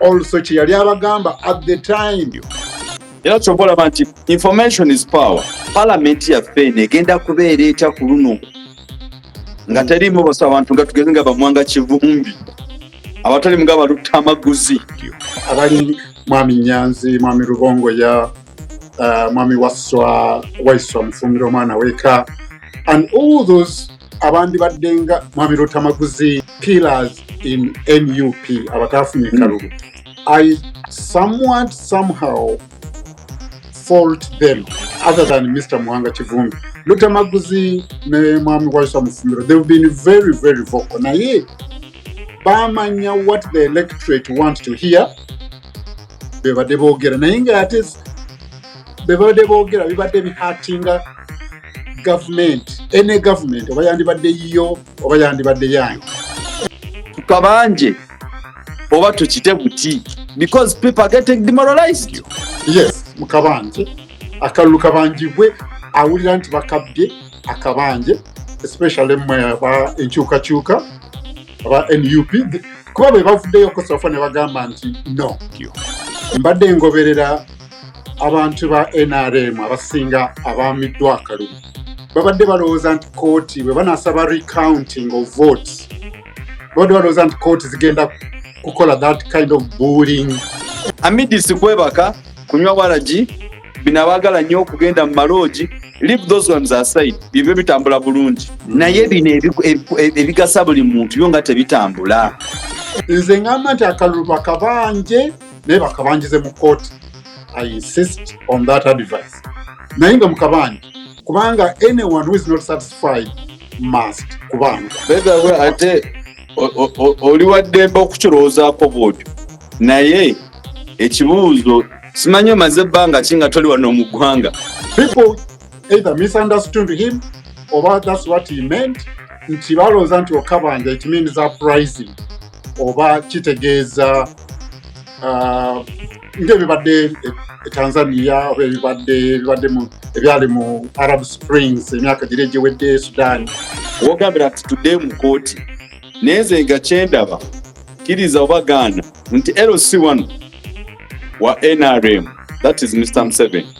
also kye yali abagamba at the time era kyova olaba nti information is power palamenti yaffe eno egenda kubeera etya ku luno nga teriimu basa abantu nga tugeze nga bamwanga kivumbi abatali mga balutta amaguzi abali mwami nyanzi mwami lubongo ya uh, mwami waswa waiswa mufumira omwana weka and all those abandi badde nga mwami lutamaguzi pillars in nup abataafunye hmm. kalulu i somewhat somehow fault them other than mr muhanga kivumbi lutamaguzi ne mwami waisa mufumiro they've been very very vocal naye bamanya what the electorate want to hear bebadde boogera naye nga ate bebadde boogera bibadde bihatinga gavumenti ene gavumenti oba yandibadde yiyo oba yandibadde yange tukabanje oba tukite buti because people are getting demoralized yes mukabanje akalulu kabanjibwe awulira nti bakabbye akabanje especially mwe aba enkyukakyuka aba nup kuba bwe bavuddeyo kosafa ne bagamba nti no mbadde ngoberera abantu ba nrm abasinga abaamiddwa akalulu babadde balowooza nti kooti bwe banasaba recounting of vote babadde balowooza nti kooti zigenda kukola that kind of bulling amidisi kwebaka kunywa waragi bino abaagala nnyo okugenda mu maloogi leave those ones aside bibyo bitambula bulungi naye bino ebigasa buli muntu byo nga tebitambula nze ngamba nti akalulu bakabanje naye bakabanjize mu kooti i insist on that advice naye nga mukabanja kubanga anyone who is not satisfied must kubanga begawe ate oli waddembe okukirowoozaako bwotyo naye ekibuuzo simanyi omaze ebbanga ki nga toli wano mu ggwanga people either misunderstood him oba that's what he meant nti balowooza nti okabanja it means uprising oba kitegeeza uh, ngaebibadde e, e tanzania oba ebibadde ebibadde ebyali mu arab springs emyaka giri egiwedde e sudan wogambira nti tudde mu kooti naye nze nga kyendaba kiriza oba gaana nti lc wano wa nrm that is mr mseveni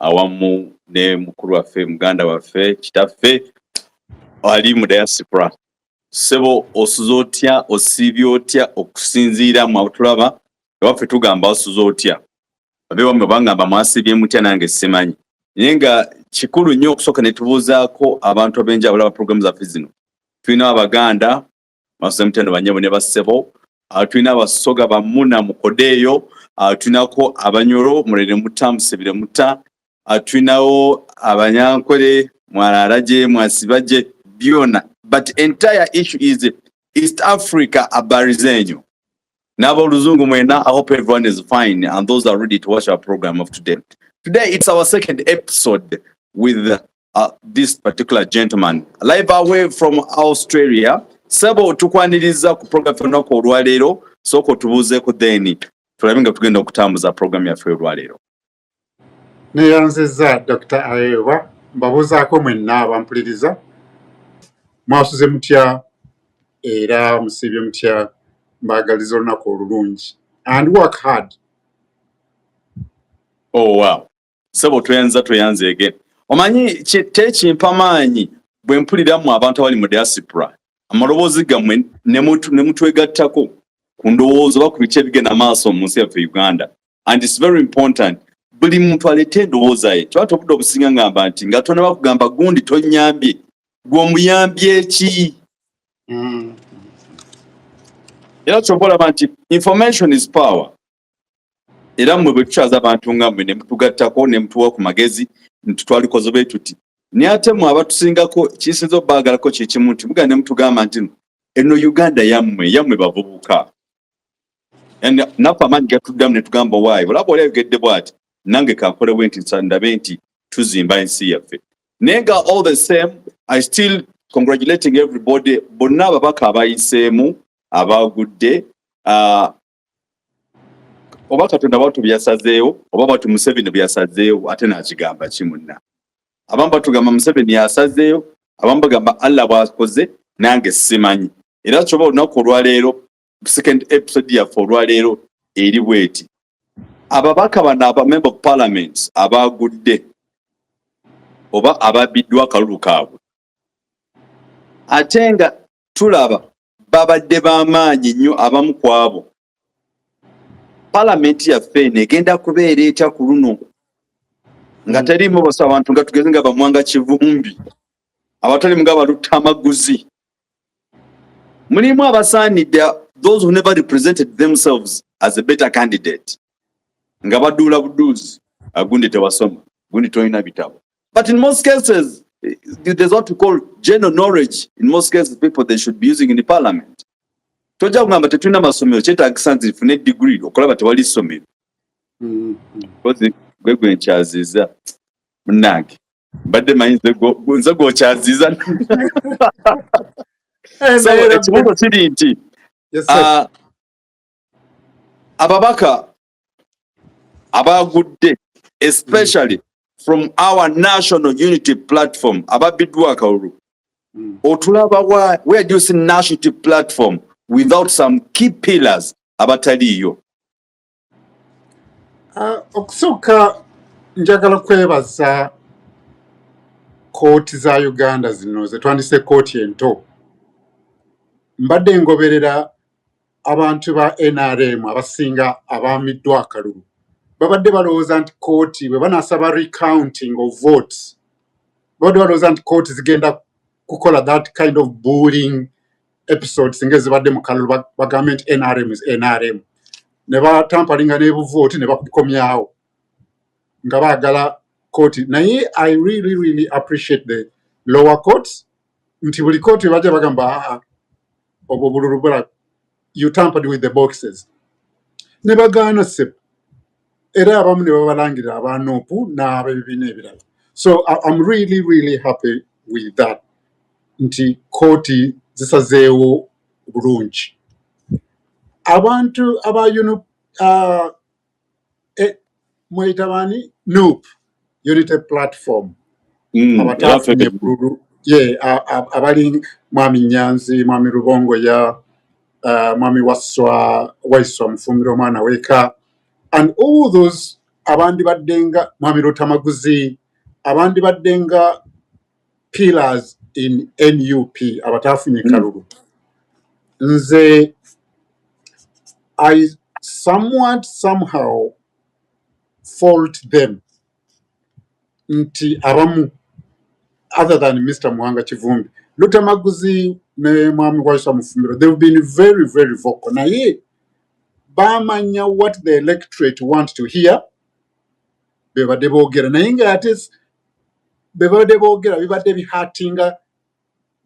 awamu ne mukulu waffe muganda waffe kitaffe ali mu diaspora sebo osuza otya osiibye otya okusinziira mu abutulaba ewaffe tugamba osuza otya abewamme bangamba mwasiibye mutya nange simanyi naye nga kikulu nnyo okusooka ne tubuuzaako abantu ab'enjawulo aba puroguramu zaffe zino tulina abaganda masemutendo banyabo ne bassebo ah, tulina abasoga bamuna mukodeeyo ah, tulinako abanyoro mulere muta musebire muta ah, tulinawo abanyankwere mwararaje mwasibaje byona but entire issue is east africa abari zenyu naboluzungu mwena i hope everyone is fine and those are ready to watch our program of today today it's our second episode with uh, this particular gentleman live away from australia sebo tukwaniriza ku program olunaku olwaleero sooka otubuuzeeko then tulabe nga tugenda okutambuza program yaffe olwaleero neyanziza dr aewa mbabuuzaako mwenna abampuliriza mwasuze mutya era musiibye mutya mbagaliza olunaku olulungi and work hard oh, wow. sebo tweyanza tweyanza again omanyi tekimpa maanyi bwe mpulira mu abantu abali mu diaspora amaloboozi gammwe ne mutwegattako ku ndowooza oba ku biki ebigenda maaso mu nsi yaffe uganda and its very important buli muntu aleeta endowooza ye kiba tobudde obusinga ngamba nti nga tona bakugamba gundi tonyambye gwomuyambye eki mm. era kyoba olaba nti information is power era mmwe bwe tukyaza abantu nga mmwe ne mutugattako ne mutuwa ku magezi nti twalikoze bwe tuti naye ate mmwe abatusingako kisinza obaagalako kye kimu nti mugana ne mutugamba nti no eno uganda yammwe yammwe bavubuka naffe amaanyi gatuddamu ne tugamba waayo olaba oli ayogedde bwati nange kankole bwe nti ndabe nti tuzimba ensi yaffe naye nga all the same i still congratulating everybody bonna ababaka abayiseemu abaagudde uh, oba katonda batu byasazeewo oba batu museveni byasazeewo ate nakigamba ki munna abamu batugamba museveni yasazeewo abamu bagamba allah bwakoze nange simanyi era kyoba olunaku olwaleero second episode yaffe olwaleero eri bweti ababaka bano abamember of parliament abagudde oba ababiddwa akalulu kaabwe ate nga tulaba babadde b'amaanyi nnyo abamu ku abo palamenti yaffe eno egenda kubeera etya ku luno nga teriimu basa abantu nga tugeze nga bamwanga kivumbi abatalimu nga balutta amaguzi mulimu abasaanidde those who never represented themselves as a better candidate nga baduula buduuzi agundi tewasoma gundi tolina bitabo But in most cases, there's what we call general knowledge. In most cases, people they should be using in the parliament. Toja kugamba tetulina masomero kyetagisa nti fune degree okulaba tewali ssomero. Mm-hmm. Gwe gwe nkyaziza munange mbadde manyi nze gwokyaziza so ekibuuzo kiri nti ah, ababaka abaagudde especially from our national unity platform ababbiddwa akalulu hmm. otulaba where do you see national unity platform without some key pillars abataliiyo ah, okusooka njagala kwebaza kooti za uganda zino zetwandise kooti ento mbadde ngoberera abantu ba nrm abasinga abaamiddwa akalulu babadde balowooza nti kooti bwe banasaba recounting of votes babadde balowooza nti kooti zigenda kukola that kind of bullying episodes nga ezibadde mu kalulu bagambe nti nrm is nrm ne batampalinga n'ebuvooti ne bakukomyawo nga baagala kooti naye i really really appreciate the lower courts nti buli kooti bajja bagamba aa ah, ah, obwo bululu bulago you tampered with the boxes ne bagaana sebo era abamu ne babalangirira aba nupu n'abebibiina ebirala so im really really happy with that nti kooti zisazeewo bulungi abantu aba uh, eh, mweyita baani nup unity platform mm, abataafunye bululu ye abali mwami nyanzi mwami lubongo ya uh, mwami waswa waiswa mufumbira omwana weka and all those abandi baddenga mwami lutamaguzi abandi baddenga pillars in nup abataafunye hmm. kalulu nze i somewhat somehow fault them nti abamu other than mr muhanga kivumbi lutamaguzi ne mwami waisa mufumbiro they've been very very vocal naye bamanya what the electorate want to hear bebadde boogera naye nga ate bebabadde boogera bibadde bihatinga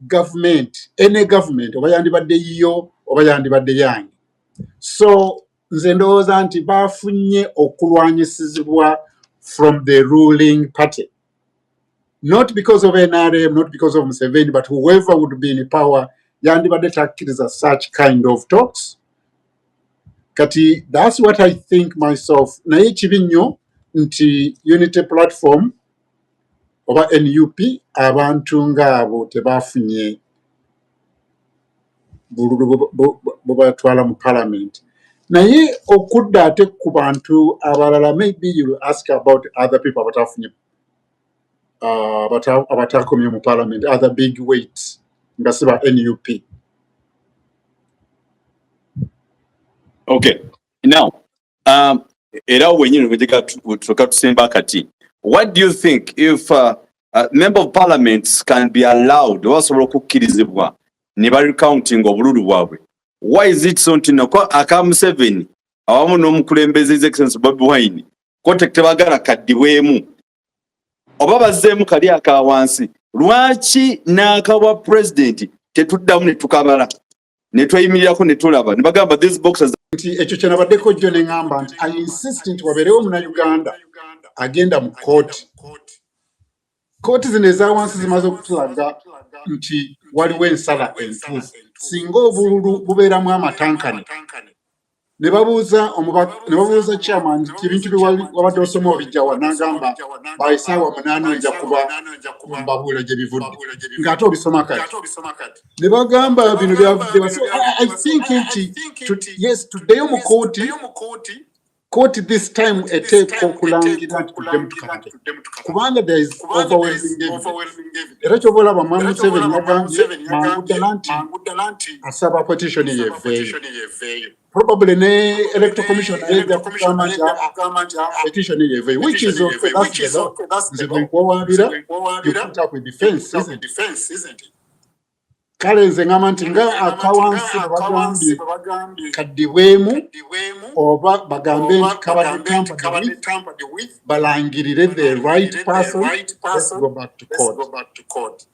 gavumenti ene gavumenti oba yandibadde yiyo oba yandibadde yange so nze ndowooza nti baafunye okulwanyisizibwa from the ruling party not because of nrm not because of museveni but whoever would be in power yandibadde takkiriza such kind of talks kati that's what i think myself naye kibi nnyo nti unity platform oba nup abantu ngaabo tebafunye bululu bubatwala mu parliament naye okudda ate ku bantu abalala maybe you ask about other people abatafunye abataakomye mu palamenti other big weight nga si ba nup okay now um, era wenyini wegeka tuka tusemba kati what do you think if uh, uh, member of parliament can be allowed oba basobola okukkirizibwa ne ba recounting obululu bwabwe why is it so ntino ko aka museveni awamu n'omukulembeze his excellency bobi wine kote tebagala kaddibwemu oba bazzeemu kali aka wansi lwaki n'akawa pulezidenti tetuddamu ne tukabala ne tweyimirirako ne tulaba ne bagamba these boxes nti ekyo kye nabaddeko jjo ne ŋŋamba nti i insist nti wabeerewo omunayuganda agenda mu kkooti kkooti zino eza wansi zimaze okutulaga nti waliwo ensala entuufu singa obululu bubeeramu amatankane ne babuuza ne babuuza chairman nti ebintu bye wabadde osoma obijjawa n'agamba by saawa munaana nja kuba mbabuula gye bivudde ng'ate obisoma kati ne bagamba bino byavudde basi i think nti yes tuddeyo mu kooti kooti this time eteeka okulangira nti tuddemu tukabade kubanga there is overwhelming era kyoba olaba mwami museveni yagambye mangu ddala nti asaba petitioni yeveeyo probably ne electoral commission naye ejja kugamba nti petitioni yeveeyo which is okay that's the law nze bwenkuwawaabira you put up with defense isn't it kale nze ngamba nti nga akawansi bebagambye kaddibwemu oba bagambe nti kabadde tampered with balangirire the right person let's go back to court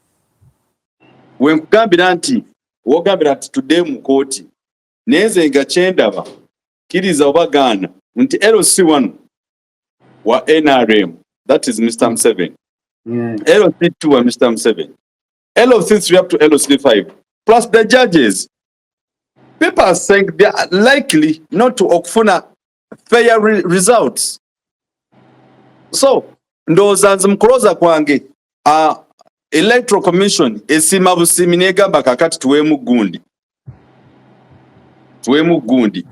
wenkugambira nti wogambira nti tudde mu kooti naye nze nga kyendaba kiriza oba gaana nti lc one wa nrm that is mr mseven mm. lc two wa mr mseven LOC3 up to LOC5, plus the judges. People are saying they are likely not to okufuna fair re results. So, ndowooza nze mu kulooza kwange uh, electoral commission esiima busiimi negamba kakati tuweemu gundi tuwemu gundi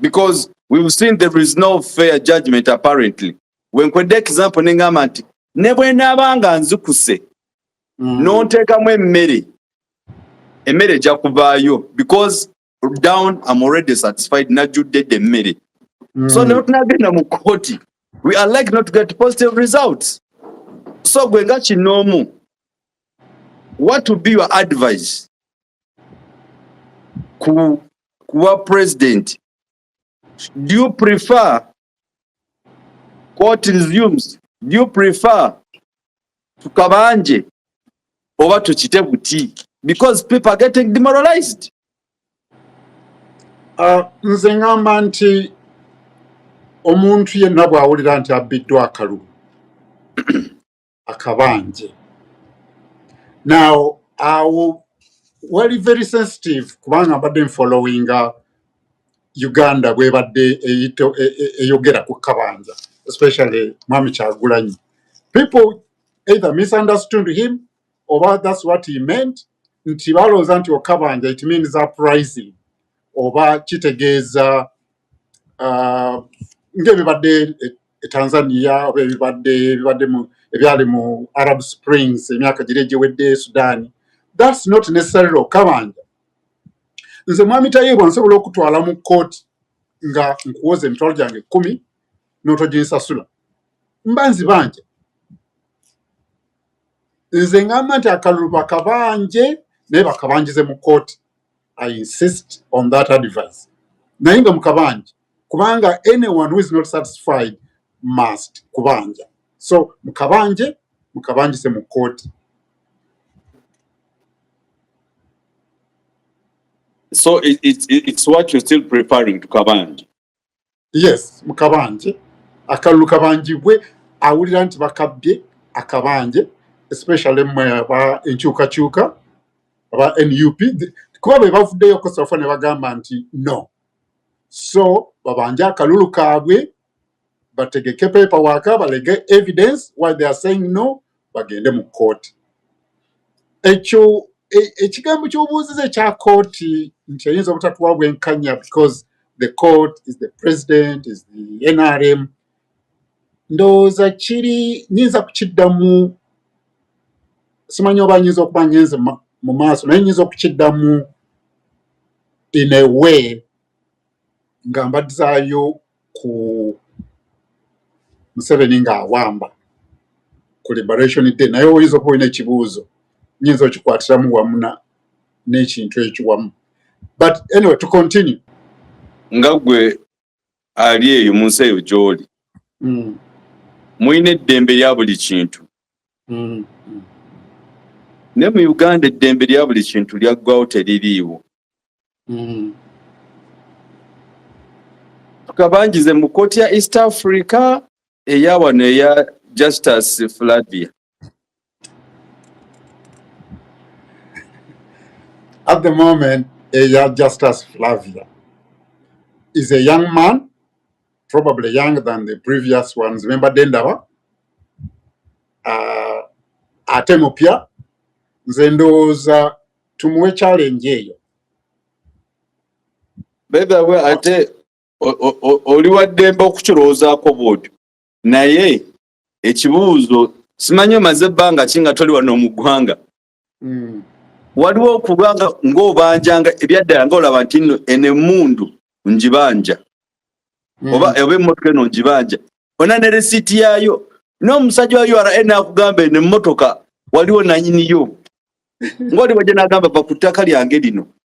because we've seen there is no fair judgment apparently wenkwedde example nengamba nti ne bwenaaba nga nzikuse mm. nonteekamu emmere emmere ejja kuvaayo because down am already satisfied najjudde dde emmere mm. so netunagenda mu kooti we are like not to get positive results so gwe nga kinoomu what to be your advice ku kuwa president do you prefer court resumes do you prefer tukabanje oba tukite buti because people are getting demoralized uh, nze ngamba nti omuntu yenna bw'awulira nti abbiddwa akalulu akabanje now awo wali very sensitive kubanga mbadde nfollowinga uganda bwebadde eyito e- e- eyogera ku kabanja especially mwami kyagulanyi people either misunderstood him oba thats what he meant nti balowooza nti okabanja it means uprising oba kitegeeza uh, ngebibadde eh, e tanzania oba ebibadde ebibadde mu ebyali mu arab springs emyaka giri egiwedde sudaani thats not necessarily okabanja nze mwami tayiibwa nsobola okutwala mu kkooti nga nkuwoza emitwalo gyange ekkumi n'otoginsasula mba nzibanja nze ngamba nti akalulu bakabanje naye bakabanjize mu kkooti i insist on that advice naye nga mukabanje kubanga anyone who is not satisfied must kubanja so mukabanje mukabanjise mu kooti so it, it, it's what you're still preparing to kabanje yes mukabanje akalulu kabanjibwe awulira nti bakabbye akabanje especially mwe aba enkyukakyuka aba nup kuba be bavuddeyo kosafa ne bagamba nti no so babanje akalulu kaabwe bategeke paper waka balege evidence why they are saying no bagende mu kooti ekyo e, ekigambo kyobuuziza ekya kooti nti eyinza obutatuwa bwenkanya because the court is the president is the nrm ndowooza kiri nyinza kukiddamu simanyi oba nyinza okuba ngenze mu maaso naye nyinza okukiddamu in a way nga mbadzaayo ku museveni nga awamba ku liberation day naye oyinza okuba olina ekibuuzo nyinza okikwatiramu wamu n'ekintu ekiwamu but anyway to continue nga gwe ali eyo mu nsi eyo gy'oli mm. mulina eddembe lya buli kintu mm. ne mu uganda eddembe lya buli kintu lyaggwawo teririiwo mm. tukabanjize mu kooti ya east africa eya wano eya justice flavia At the moment, Eya Justus Flavia is a young man, probably younger than the previous ones. Remember Dendaba? Uh, ate mupya nze ndowooza tumuwe challenge eyo bedawe ate oli waddembe okukirowoozaako bwotyo naye ekibuuzo simanyi omaze ebbanga ki nga toli wano mu ggwanga hmm. waliwo okuba nga ng'obanjanga ebyaddala nga olaba nti no eno emmundu ngibanja hmm. oba oba emmotoka eno ngibanja ona ne resiiti yaayo n'omusajja wa ura naakugamba eno emmotoka waliwo nanyiniyo ng'oli wajja n'agamba va ku ttaka lyange lino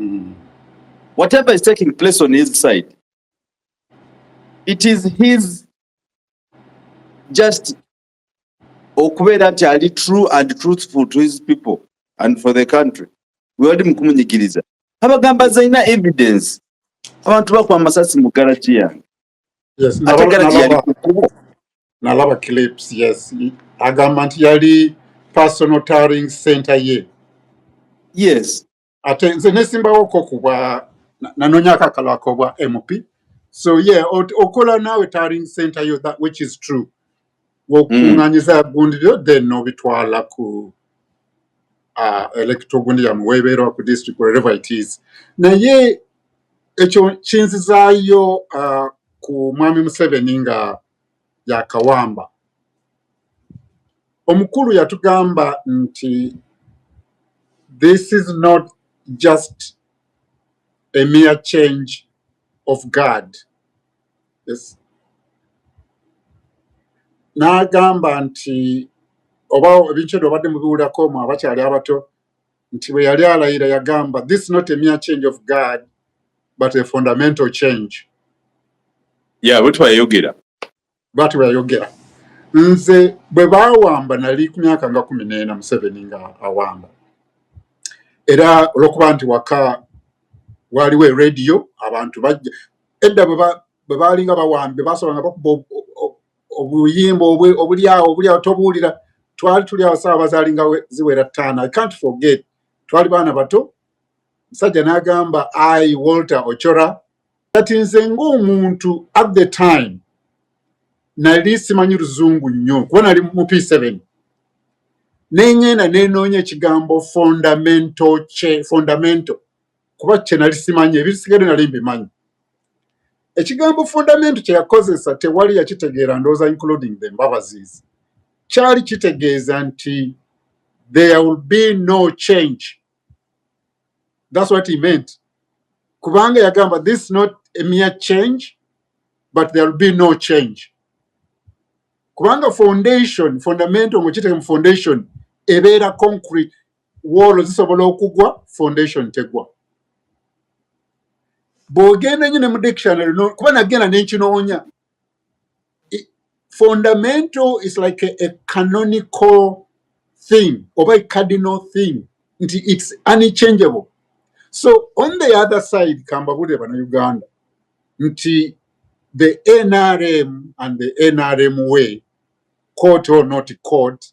Mm. Whatever is taking place on his side, it is his just okubeera nti ali true and truthful to his people and for the country wewali mukumunyigiriza abagamba zalina evidence abantu bakuba amasasi mu garagi yange Yes, ate nalaba galagi yali nalaba ku kkubo nalaba clips yes. I- Agamba nti yali personal tarring center ye. yes Ate nze nesimbawoko kubwa na- nanonya akakalo akobwa MP. So yeah, ot- okola naawe tarring center yo that which is true. ng'okukunganyiza mm. gundibyo then nobitwala ku uh, electoral gundi yamu webeerwa ku district wherever it is naye ekyo kinzizaayo uh, ku mwami museveni nga yakawamba omukulu yatugamba nti this is not just a mere change of guard n'agamba nti oba ebintu ebyo obadde mubiwulirako mu abakyali abato nti bwe yali alayira yagamba this not a mere change of guard but a fundamental change ya bwetyo yayogera bwatyo yayogera nze bwe baawamba nali ku myaka nga kumi n'ena museveni nga awamba era olwokuba nti waka waaliwo erediyo abantu bajja edda bwe baalinga bawambi bwe baasobola nga bakuba obuyimba obuli awo obuli awo tobuwulira twali tuli awo saawa bazaalinga ziwera ttaano i can't forget twali baana bato musajja n'agamba ai walter ochora kati nze ng'omuntu at the time nali simanyi luzungu nnyo kuba nali mu p seven neŋŋenda nenoonya ekigambo fundamento kye fundamento kuba kye nali simanyi ebisigadde nali mbimanyi ekigambo fundamentu kye yakozesa tewali yakitegeera ndowooza including the mbabazis kyali kitegeeza nti there will be no change thats what he meant kubanga yagamba this not a mere change but there will be no change kubanga foundation fundamental mukiteeka mu foundation ebeera concrete woolo zisobola okugwa foundation tegwa bwogenda nyo ne mu dictionary no kuba nagenda nenkinoonya fundamental is like a, a canonical thing oba a cardinal thing nti it's unchangeable so on the other side kambabulire bana uganda nti the nrm and the nrm way court or not court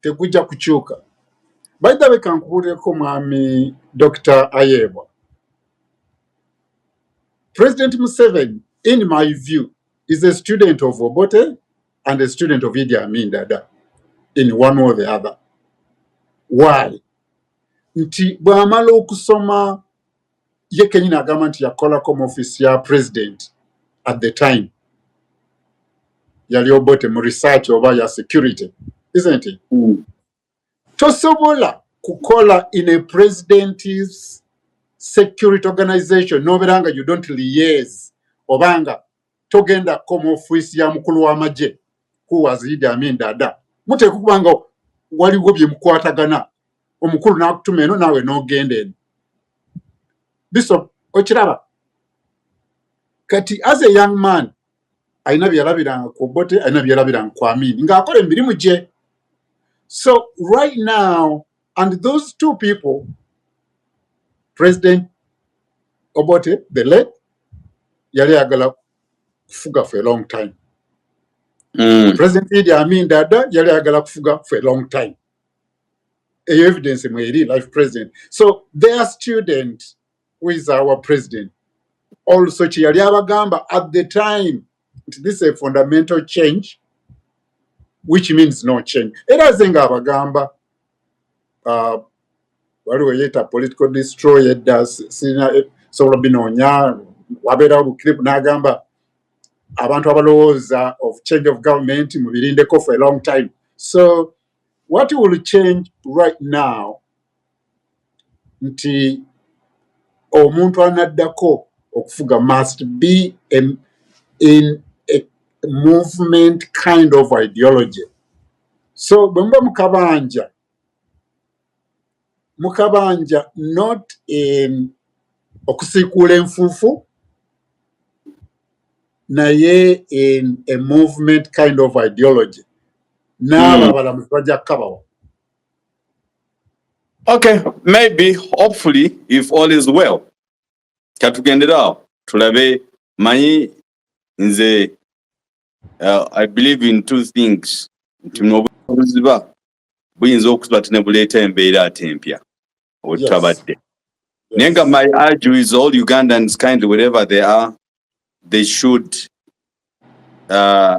tegujja kukyuka baithawe kankubuulireko mwami dr ayebwa president museveni in my view is a student of obote and a student of idi amin dada in one or the other why nti bwamala okusoma ye kenyini agamba nti yakolako mu office ya president at the time yali obote mu research oba ya security isn't it mm. tosobola kukola in a president's security organization noberanga you don't liaise obanga togenda koma ofiisi ya mukulu w'amagye kuwaza idi amin dada muteeka okuba nga waliwo bye mukwatagana omukulu n'akutuma eno naawe n'ogenda eno biso okiraba kati as a young man alina byeyalabiranga ku obote alina byeyalabiranga ku amini ng'akola emirimu gye so right now And those two people, President Obote, the late, yali agala kufuga for a long time. Mm. President Idi Amin Dada yali agala kufuga for a long time. Eyo evidence mweri life president. So their student who is our president also kyeyali abagamba at the time nti this a fundamental change which means no change era aze nga abagamba uh, waliwo yeeta political destroy edda sirina eh, sobola binoonya wabeerawo buclip n'agamba abantu abalowooza of change of government mubirindeko for a long time so what will change right now nti omuntu anaddako okufuga must be a, in a movement kind of ideology so bwe muba mukabanja mukabanja not in okusiikuula enfuufu naye in a movement kind of ideology n'abo hmm. abalamuzi bajja kukabawa Okay, maybe hopefully if all is well katugenderawo tulabe manyi nze uh, I believe in two things nti nobuziba buyinza okuba ti nebuleeta embeera ate empya obutabadde naye nga my argue is all ugandans kindly wherever they are they should uh,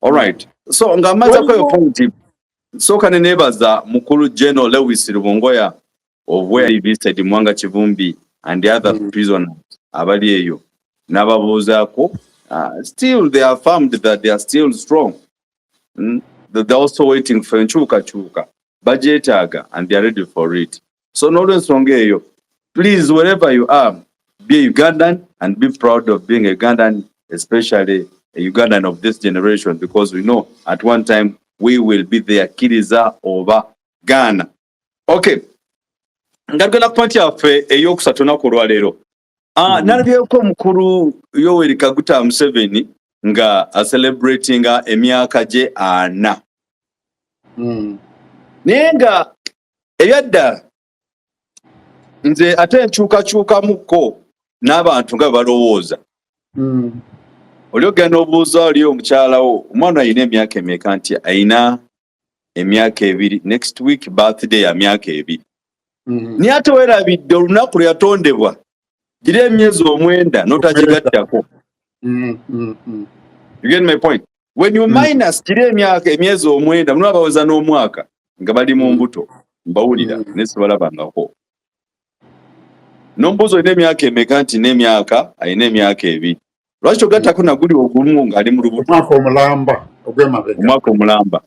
All right. So nga maza kwa point. So kane nebaza mukulu General Lewis Rubongoya of where he visited Mwanga Chivumbi and the other mm. prisoners abali eyo nababuuzaako uh, still they are affirmed that they are still strong mm? that they're also waiting for enkyukakyuka bagyetaaga and they are ready for it so n'olwensonga eyo please wherever you are be a ugandan and be proud of being a ugandan especially a ugandan of this generation because we know at one time we will be there kiriza oba gaana okay nga tugenda ku pointi yaffe eyokusatu naku olwaleero Ah, mm. nalabyeko omukulu yoweri kaguta museveni nga acelebratinga emyaka gye ana mm. naye nga ebyaddala nze ate nkyukakyukamukko n'abantu nga bebalowooza mm. oli ogenda obuuza oli omukyalawo omwana alina emyaka emeka nti ayina emyaka ebiri next week birthday ya myaka ebiri mm-hmm. naye ate werabidde olunaku lwe yatondebwa giri emyezi omwenda notagigattako mm-hmm. you get my point when you mm-hmm. minus giri emyaka emyezi omwenda mulimu abaweza n'omwaka nga bali mu mbuto mbawulira naye sibalabangako nombuuza olina emyaka emeka nti n'emyaka alina emyaka ebiri lwaki togattako naguli ogumu ngaali mu lubuto omwaka omulamba ogwemabega omwaka omulamba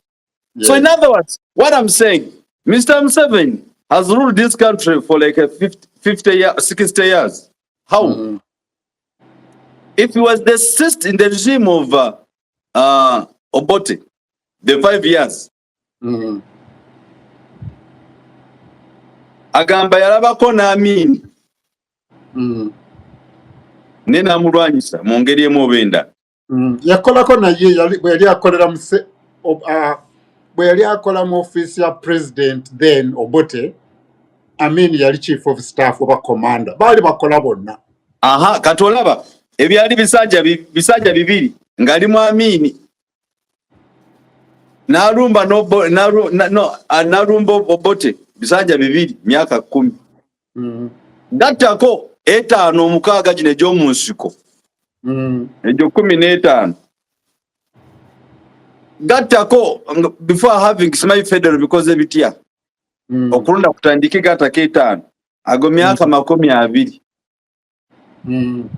yes. so in other words what i'm saying mr museven has ruled this country for like a 50, 50 year, 60 years how mm -hmm. if he was the sist in the regime of uh, uh, obote the five years mm. agamba yalabako n'amiini mm. naye n'amulwanyisa mu ngeri emu oba endala mm. yakolako naye bwe yali akolera muse bwe yali akola mu ofiisi ya president then obote amiini yali chief of staff oba commander baali bakola bonna aha kati olaba ebyali bisajja bisajja bibiri ng'ali mu amiini nalumba nobo nalu, na, no nalumba obote bisanja bibiri myaka kumi mm. Mm-hmm. gattako etaano omukaaga gino egy'omu nsiko mm. egyo kumi n'etaano gattako before having simanyi federal bikoze bitya mm. okulonda kutandike gattako etaano ago myaka mm. makumi abiri hmm.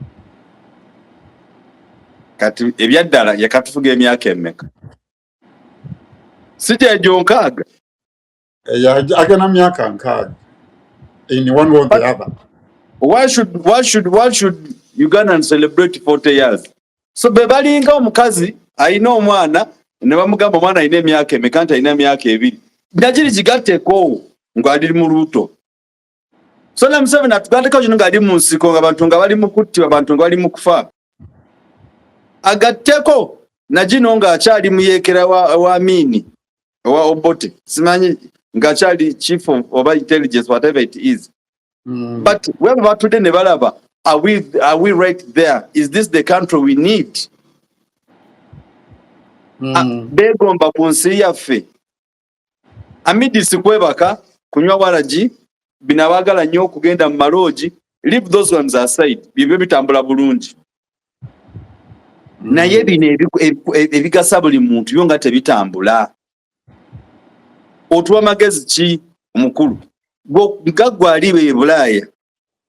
kati ebyaddala yakatufuga emyaka emeka si gyegyo nkaaga eh, agana myaka nkaaga in one way or the other why should, why should, why should ugandan celebrate 40 years so be balinga omukazi alina omwana ne bamugamba omwana alina emyaka emeka nti alina emyaka ebiri nagiri gigatteekoowo ng'ali mu lubuto so na Museveni atugandeko kino ngali mu nsiko nga bantu nga bali mu kuttibwa bantu nga bali mu kufa agatteko na gino nga akyali muyekera wa, wa Amini owa Obote simanyi nga akyali chief of oba intelligence whatever it is mm. but where batudde ne balaba are we, are we right there is this the country we need mm. Ah, begomba ku nsi yaffe amidisi kwebaka kunywa waragi bino abagala nnyo okugenda mu maloogi leave those ones aside bibyo bitambula bulungi naye bino ebigasa buli muntu byo nga tebitambula otuwa magezi ki omukulu gaggwa aliba ebulaaya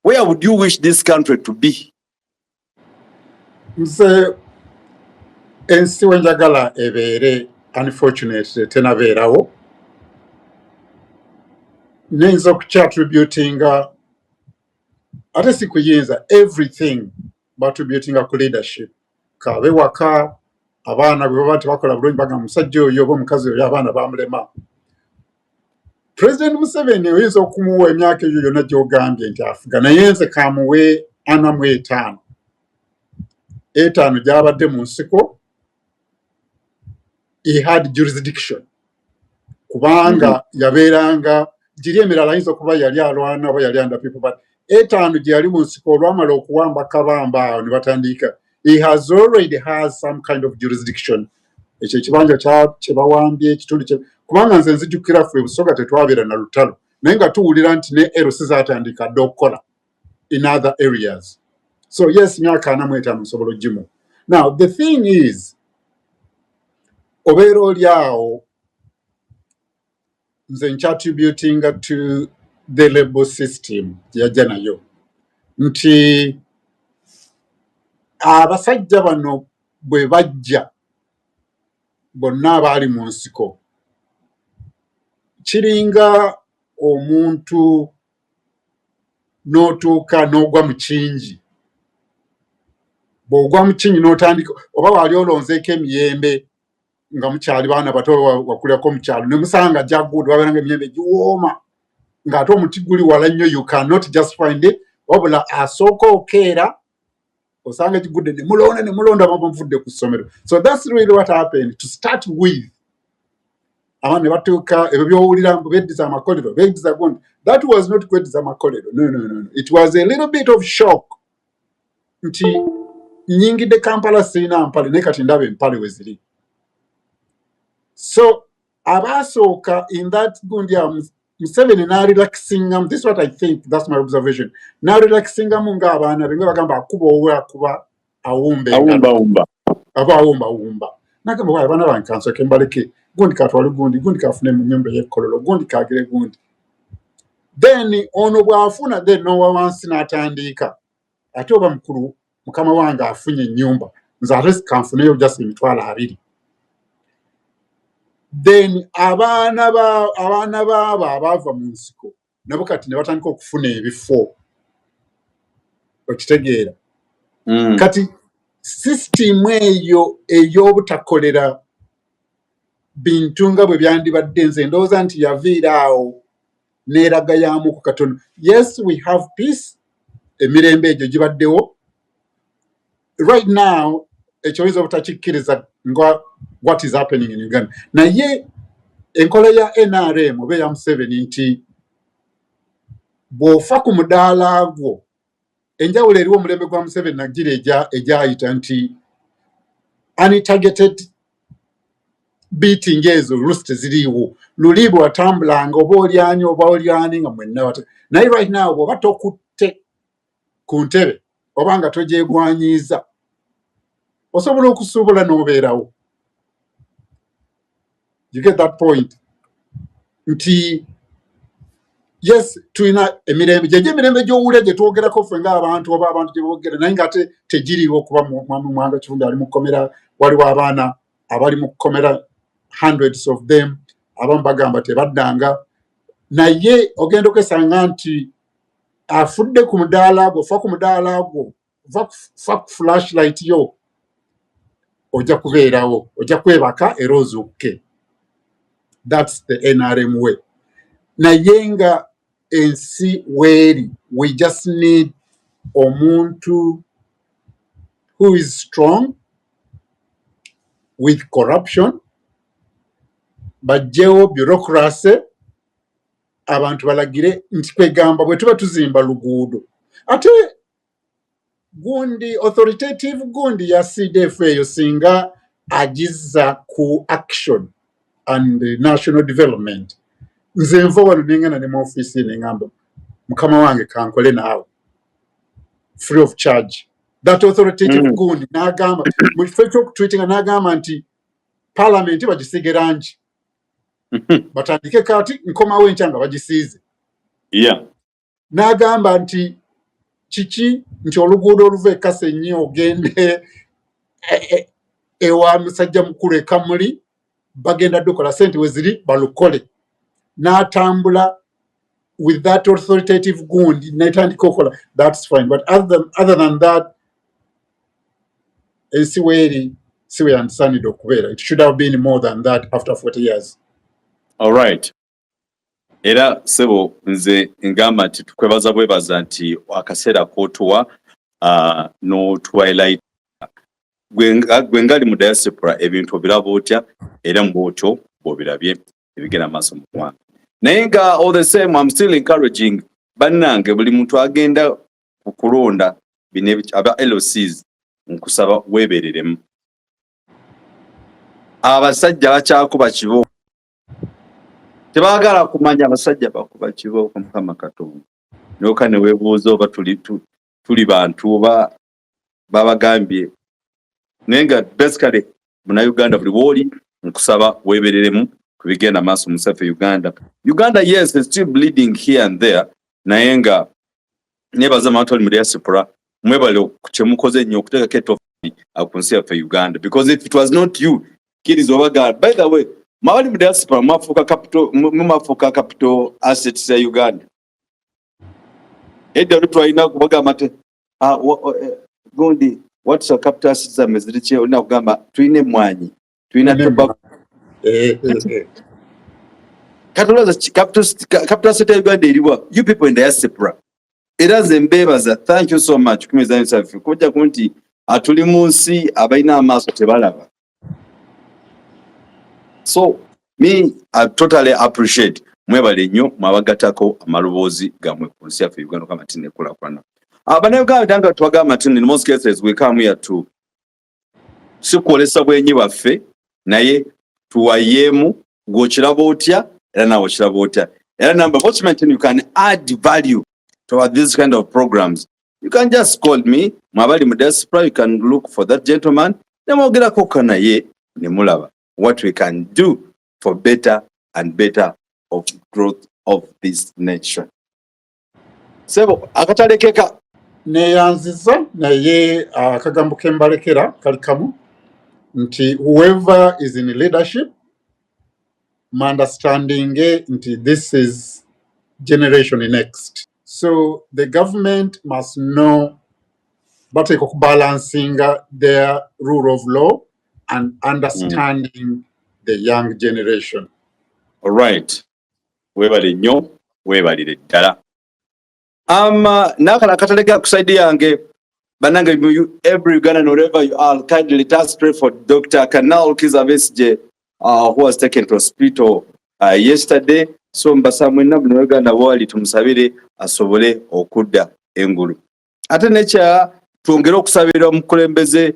where would you wish this country to be nze ensi wenjagala ebeere unfortunately tenabeerawo niyinza okukyattributinga ate si kuyinza everything battributinga ku leadership kaabe waka abaana bwe baba tebakola bulungi bagamba musajja oyo oba omukazi oyo abaana bamulema president museveni oyinza okumuwa emyaka eyo yona gyogambye nti afuga naye nze kamuwe ana mu etaano etaano gyabadde mu nsiko he had jurisdiction kubanga mm-hmm. yabeeranga giri emirala ayinza okuba yali alwana oba yali under people but etaano gye yali mu nsiko olwamala okuwamba kabamba awo ne batandiika he has already has some kind of jurisdiction ekyo ekibanja kye bawambye ekitundu kye kubanga nze nzijukira ffe busoga tetwabeera na lutalo naye nga tuwulira nti ne erosi zatandika dde okukola in other areas so yes myaka ana mu etaano nsobola ogimu now the thing is obeera oli awo nze nkyatributinga to the label system yajja nayo nti abasajja bano bwe bajja bonna abaali mu nsiko kiringa omuntu n'otuuka n'ogwa mu kingi bw'ogwa mu kingi n'otandika oba waali olonzeeko emiyembe nga mukyali baana bato wakulirako mukyalo ne musanga jagud waberanga emiyembe giwooma ng'ate omuti guli wala nnyo you cannot just find it wabula asooka okeera osanga egigudde ne mulonda ne mulonda bamuvudde ku ssomero so that's really what happened to start with abaana ne batuuka ebyo byowulira mbu beddiza amakolero beddiza gundi that was not kweddiza amakolero no, no, no, no. it was a little bit of shock nti nyingidde Kampala sirina mpale naye kati ndaba empale we ziri so abaasooka in that gundi um, Museveni n'arelaxingamu this what I think that's my observation n'arelaxingamu ng'abaana be nga bagamba akuba owe akuba awumba engalo aba awumba awumba nagamba waaye abaana bange kansoke mbaleke gundi katwale gundi gundi kafune mu nyumba ey'ekkololo gundi kagire gundi then ono bwafuna then nowa wansi natandiika ate oba mukulu mukama wange afunye enyumba nze ate kanfuneyo just emitwalo abiri then abaana ba abaana baabo abaava mu nsiko nabo kati ne batandika okufuna ebifo okitegeera mm. kati sisitimu eyo ey'obutakolera bintu nga bwe byandibadde nze ndowooza nti yaviira awo neeraga yaamu ku katono yes we have peace emirembe egyo gibaddewo right now ekyo oyinza obutakikkiriza nga what is happening in uganda naye enkola ya nrm oba eya museveni nti bw'ofa ku mudaala gwo enjawulo eriwo omulembe gwa museveni nagira egyayita nti untargeted beating ezo lusi teziriiwo luli bwewatambulanga oba olyani oba olyani nga mwenna naye right now bwoba tokutte ku ntebe oba nga togyegwanyiiza osobola okusuubula n'obeerawo you get that point nti yes tulina emirembe gyegyo emirembe gyowulira gyetwogerako ffe ngaabantu oba abantu gyebogera naye nga ate tegiriiwo okuba mwami mwanga kifundi ali mukomera waliwo abaana abali mukomera hundreds of them abamu bagamba tebaddanga naye ogenda okwesanga nti afudde ku mudaala gwo fa ku mudaala gwo va ku flashlight yo ojja kubeerawo ojja kwebaka era ozuukuke thats the nrm way naye nga ensi weeri we just need omuntu who is strong with corruption bajjewo bureaucracy abantu balagire nti kwegamba bwe tuba tuzimba luguudo ate gundi authoritative gundi ya cdf eyo singa agiza ku action and national development nze nva wano nengana ne mu office nengamba mukama wange kankole naawe free of charge that authoritative mm. gundi nagamba mu kifo ekyokutwitinga nagamba nti palamenti bagisiige rangi batandike kati nkomawo enkya nga bagisiize n'agamba nti kiki nti oluguudo oluva e kasenyi ogende e, e, ewa musajja mukulu ekamuli bagenda dukola sente weziri balukole n'atambula with that authoritative gund netandika okola thats fine but other than, other than that ensi weeri si weyandisanide okubeera it should have been more than that after 40 years all right era sebo nze ngamba nti tukwebaza bwebaza nti akaseera kotuwa uh, no twilight gwe ngali mu diaspora ebintu obiraba otya era mubwotyo bwobirabye ebigenda maaso mu ggwanga naye nga all the same am still encouraging bannange buli muntu agenda ku kulonda bino aba lcs nkusaba weebereremu abasajja bakyakuba kibo tebagala kumanya abasajja bakuba kibooko mukama katonda noka newebuuza oba tuli, tuli bantu oba babagambye naye nga basically munauganda buli wooli nkusaba webereremu kubigenda maaso musafe uganda uganda yes still bleeding here and there naye nga nebaza abantu ali mu diaspora mwebale kyemukoze nnyo okuteekako etofali ku nsi yaffe uganda because if it was not you kiriza oba gaana by the way mwabali mu diaspora mwafuuka capital mumafuuka capital assets ya uganda edda oli twalina kubagamba nti ah, eh, gundi what's your capital assets zamme ziri ki olina kugamba tulina emmwanyi tulina tobacco eh, eh, kati olowooza capital asset ya uganda eriwa you people in diaspora era nze mbeebaza thank you so much kumizanyo saffe kujja ku nti atuli mu nsi abalina amaaso tebalaba so me I totally appreciate mwebale nnyo mwabagatako amaloboozi gamwe ku nsi yaffe uganda kama tine kulakulana abanauganda tanga twagamba tini in most cases we come here to si kwolesa bwenyi bwaffe naye tuwayeemu gwokiraba otya era nawe okiraba otya era namba bokimanyi tini you can add value to this kind of programs you can just call me mwabali mu diaspora you can look for that gentleman nemwogerako ka naye nemulaba what we can do for better and better of growth of this nation sebo akatalekeka neyanziza naye ah, akagambo uh, kembalekera kali kamu nti whoever is in leadership my understanding eh, nti this is generation next so the government must know bateeka okubalansinga their rule of law and understanding mm. the young generation alright webale nnyo webalire ddala ama um, uh, nakala akatalega ku side yange banange every ugandan wherever you are kindly let us pray for dr canal kizabesje uh, who was taken to hospital uh, yesterday so mbasa mwena buli weganda wali tumusabire asobole okudda engulu ate nekya twongere okusabira omukulembeze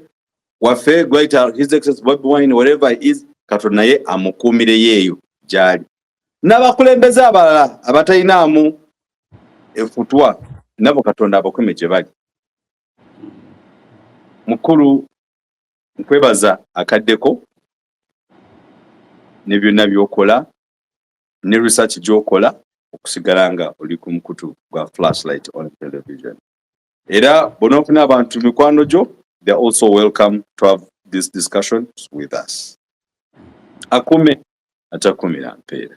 waffe great his excess bobi wine whatever is katonda naye amukuumire yeeyo gyali n'abakulembeze abalala abatalinaamu efutwa nabo katonda abakume gye bali mukulu nkwebaza akaddeko ne byonna byokola ne research gyokola okusigala nga oli ku mukutu gwa flashlight on television era bonaofuna abantu mikwano gyo they are also welcome to have this discussion with us akume atakumira mpeera